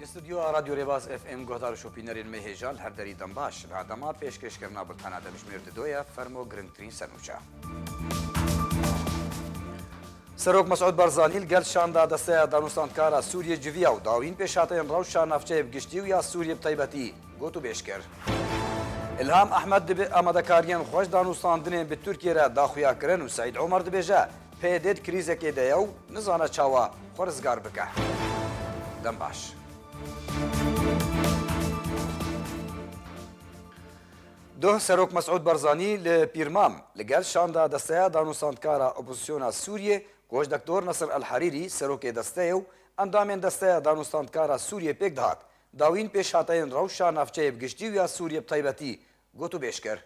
Li studyoya Radyo Rêbaz FM guhdar û şopînerên me hêja li her derî din baş. Li Adama pêşkêşkirina bultena demjimêr di doye, fermo girngtirîn senûça. Serok Mesud Barzanî li gel şanda desteya danûstandkara Sûriyê civiya û dawîn pêşhateyên rewşa navçeyê bi giştî û ya Sûriyê bi taybetî got û bêj kir. Îlham Ehmed dibe amadekariyên xweş danûstandinên bi Tirkiyê re daxuya kirin û Seîd Omer dibêje, PYD di krîzekê de ye û nizane çawa xwe rizgar bike. Dem baş. Duh Serok Mesûd Barzanî li Pîrmam li gel şanda desteya danûstandkara opozîsyona Sûriyê Goş Dektor Nasir El Herîrî serokê desteyê û endamên desteya danûstandkara Sûriyê pêk dihat dawîn pêşhateyên rewşa navçeyê bi giştî û ya Sûriyê bi taybetî gotûbêj kir.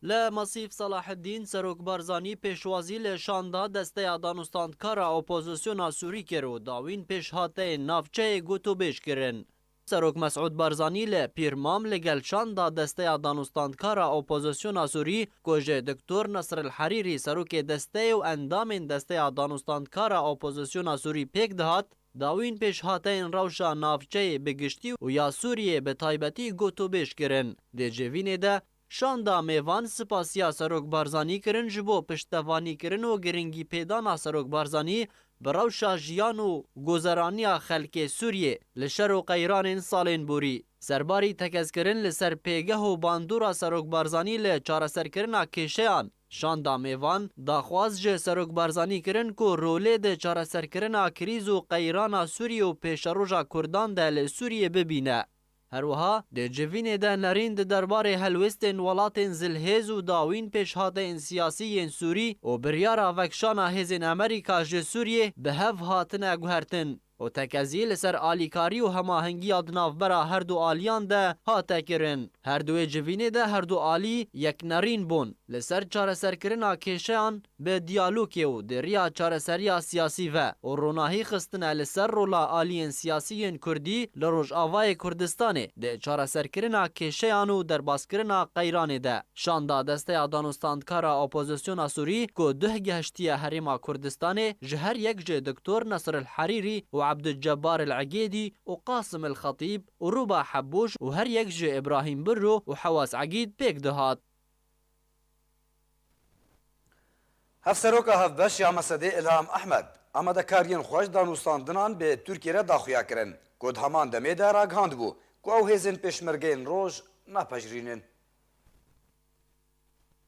Li Masîf Salaheddîn, Serok Barzanî pêşwazî li şanda Desteya Danûstandkar a Opozisyona Sûrî kir û dawîn pêşhateyên navçeyê gotûbêj kirin. Serok Mesûd Barzanî li Pîrmam li gel şanda Desteya Danûstandkar a Opozisyona Sûrî ku ji Diktor Nasril Herîrî Serokê Desteyê û endamên Desteya Danûstandkar a Opozisyona Sûrî pêk dihat, Dawîn pêşhateyên rewşa navçeyê bi giştî û ya Sûriyeyê bi taybetî gotûbêj kirin. Di civînê de, şanda mêvan spasiya Serok Barzanî kirin ji bo piştevanîkirin û giringîpêdana Serok Barzanî bi rewşa jiyan û gozeraniya xelkê Sûriyê li şer û qeyranên salên borî. Serbarî tekezkirin li ser pêgeh û bandora Serok Barzanî li çareserkirina kêşeyan, Şandamê van, daxwaz ji Serok Barzanî kirin ku rolê di çareserkirina krîz û qeyrana Sûriyê û pêşeroja Kurdan de li Sûriyê bibîne. Her wiha di civînê de nerîn di derbarê helwestên welatên zilhêz û dawîn pêşhateyên siyasî yên Sûrî û biryara vekişana hêzên Amerîka ji Sûriyê bi hev hatine guhertin. û tekezî li ser alîkarî û hemahengiya di navbera her du aliyan de hate kirin. Her duê civînê de her du alî yeknerîn bûn li ser çareserkirina kêşeyan bi diyalokê û di riya çareseriya siyasî ve û ronahî xistine li ser rola aliyên siyasî yên kurdî li Rojavayê Kurdistanê di çareserkirina kêşeyan û derbaskirina qeyranê de. Şanda Desteya Danûstandkar a Opozisyona Sûrî ku duh gihiştiye Herêma Kurdistanê ji her yek jê Doktor Nasr El Herîrî û Abdulcebar El Egêdî û Qasim El Xetîb û Rûba Hebûş û her yek jê Îbrahîm Birru û Hewas Egîd pêk dihat. Hevseroka Hevbeş ya Mesedê Îlham Ehmed, amadekariyên xwe ji danûstandinan bi Tirkiyê re daxuya kirin ku di heman demê de ragihandibû ku ew hêzên pêşmergeyên roj napejirînin.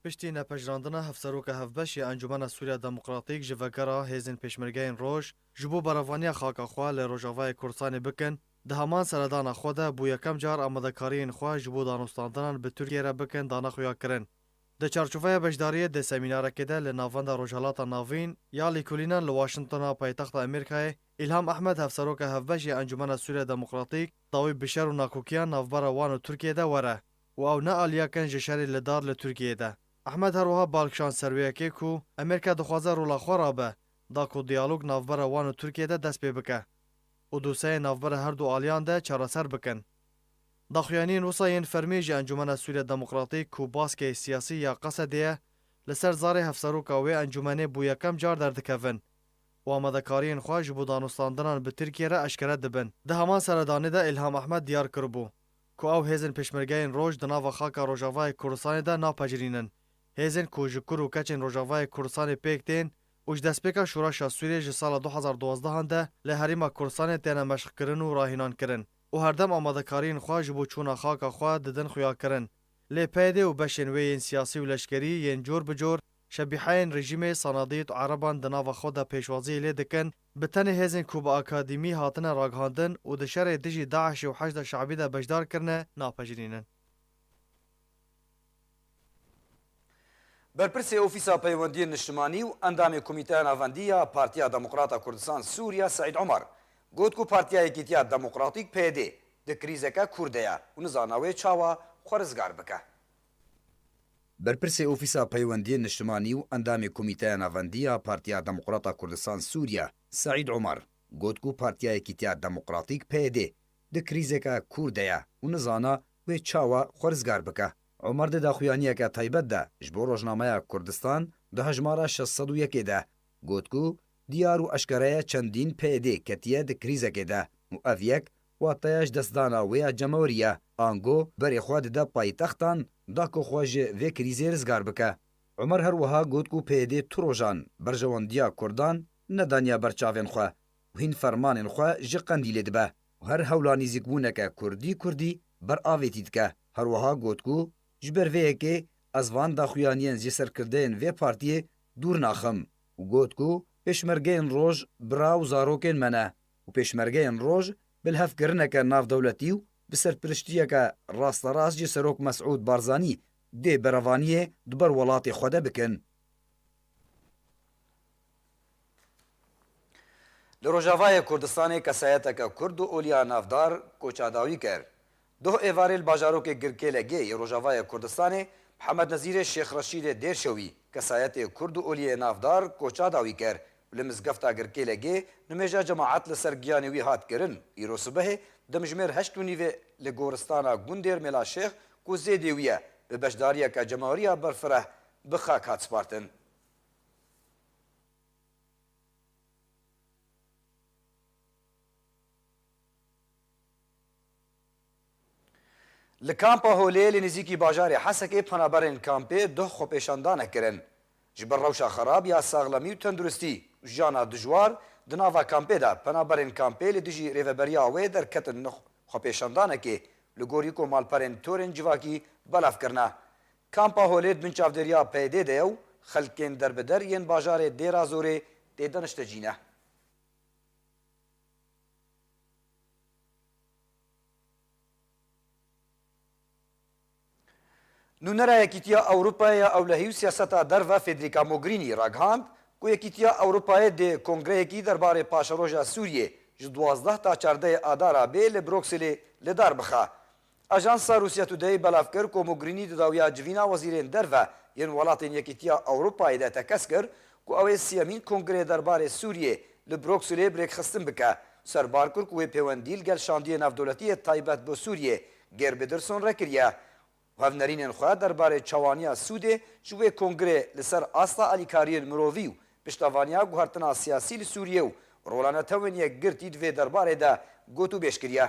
Piştî nepejirandina Hevseroka Hevbeş ya Encûmena Sûriya Demokratîk ji vegera Hêzên Pêşmergeyên Roj ji bo berevaniya xaka xwe li Rojavayê Kurdistanê bikin, di heman seredana xwe de bo yekem car amadekariyên xwe ji bo danostandinan bi Tirkiyeyê re bikin dana xuyakirin. Di çarçoveya beşdariyê di semînarekê de li Navenda Rojhilata Navîn ya Lêkolînan li Washingtona paytexta Amerîkayê, Îlham Ehmed Hevseroka Hevbeş ya Encûmena Sûriya Demokratîk dawî bi şer û nakokiyan navbera wan û Tirkiyeyê de were. û ew ne aliya ken ji şerê li dar li Tirkiyeyê de. Ehmed her wiha bal kişand ser wê yekê ku Amerîka dixwaze rola xwe rabe da ku diyalog navbera wan û Tirkiyeyê de dest pê bike û doseyên navbera her du aliyan de çareser bikin. Daxuyaniyên wisa yên fermî ji Encûmena Sûriya Demokratîk ku baskeyê siyasî ya Qesedê ye li ser zarê hevseroka wê encûmenê bo yekem car derdikevin û amadekariyên xwe ji bo danûstandinan bi Tirkiye re eşkere dibin. Di heman seredanê de Îlham Ehmed diyar kiribû ku ew hêzên pêşmergeyên roj di nava xaka Rojavayê Kurdistanê de napecirînin, hêzên ku ji kur û keçên Rojavayê Kurdistanê pêk tên û ji destpêka Şoreşa Sûriyê ji sala du hezar duwazdeh an de li Herêma Kurdistanê têne meşqkirin û rahînankirin û herdem amadekariyên xwe ji bo çûna xaka xwe didin xuyakirin lê PYD û beşên wê yên siyasî û leşkerî yên cor bi cor şebîheyên rejîmê, Sanadîd û Ereban di nava xwe de pêşwaziyê lê dikin. Bi tenê hêzên ku bi akademî hatine ragihandin û di şerê dijî DAIŞ'ê û Heşda Şe'bî de beşdar kirine napejirînin. Berpirsê Ofîsa Peywendiyên Niştimanî û Endamê Komîteya Navendî ya Partiya Demokrata Kurdistan Sûriya Seîd Omar got ku Partiya Yekîtiya Demokratîk, PYD, di krîzeke kûr de ye û nizana wê çawa xwe rizgar bike. Berpirsê Ofîsa Peywendiyên Niştimanî û Endamê Komîteya Navendî ya Partiya Demokrata Kurdistan Sûriye Seîd Omar got ku Partiya Yekîtiya Demokratîk, PYD, di krîzeke kûr de ye û nizana wê çawa xwe rizgar bike. Omar di daxuyaniyeke taybet de ji bo rojnameya Kurdistan di hejmara şeş sed û yekê de got ku, Diyar û eşkere ye çendîn PYD ketiye di krîzekê de û ev yek Wateya ji destdana wê ya cemewrî ye, ango berê xwe dide paytextan da ku xwe ji vê krîzê rizgar bike. Omer her wiha got ku PYD tu rojan berjewandiya Kurdan nedaniya ber çavên xwe û hîn fermanên xwe ji Qendîlê dibe û her hewla nîzîkbûneke Kurdî Kurdî ber avêtî dike. Her wiha got ku ji ber vê yekê ez van daxuyaniyên ji serkirdeyên vê partiyê dûr naxim û got ku Pêşmergeyên roj bira û zarokên me ne. û pêşmergeyên roj bi lhevkirineke navdewletî û bi serpiriştiyeke rasterast ji Serok Mesûd Barzanî dê berevaniyê di ber welatê xwe de bikin. Li Rojavayê Kurdistanê kesayeteke Kurd û oliya navdar koça dawî kir. Doh êvarê li bajarokê Girkêlegê yê Rojavayê Kurdistanê Mihemed Nezîrê Şêx Reşîdê Dêrşewî kesayetê Kurd û Oliyê Navdar koça dawî ker û li mizgefta Girkêlegê nimêja cemaet li ser giyanê wî hat kirin îro sibehê demjimêr heşt û nîvê li goristana gundêr Mêlaşêx ku zêdê wî ye bi beşdariyeke cemaweriya berfireh bi xak hat spartin. Li Kampa Holê li nêzîkî bajarê Hesekê penaberên kampê duh xwepêşandanek kirin. Ji ber rewşa xerab ya saxlemî û tenduristî û jiyana dijwar di nava kampê de penaberên kampê li dijî rêveberiya wê derketin nuh xwepêşandanekê li gorî ku malperên torên civakî belav kirine. Kampa Holê di bin çavdêriya PYD'ê de ye û xelkên derbider yên bajarê Dêrazorê tê de niştecî ne. Nûnera Yekîtiya Ewropayê ya Ewlehî û Siyaseta Derve Federica Mogherini ragihand ku Yekîtiya Ewropayê dê kongreyekî derbarê paşeroja Sûriyê ji duwazdeh ta çardehê Adara bê li Brokselê lidar bixe. Ajansa Russia Today belav kir ku Mogrinî di dawiya civîna wezîrên derve yên welatên Yekîtiya Ewropayê de tekez kir ku ew ê siyemîn kongreyê derbarê Sûriyê li Brukselê bi rêkxistin bike. Serbar kir ku wê pêwendî li gel şandiyê navdewletî yê taybet bo Sûriyê Geir Biderson re kiriye û hevnerînên xwe derbarê çawaniya sûdê ji wê kongrê li ser asta alîkariyên mirovî û piştevaniya guhertina siyasî li Sûriyê û rola netewên yekgirtî di vê derbarê de gotûbêj kiriye.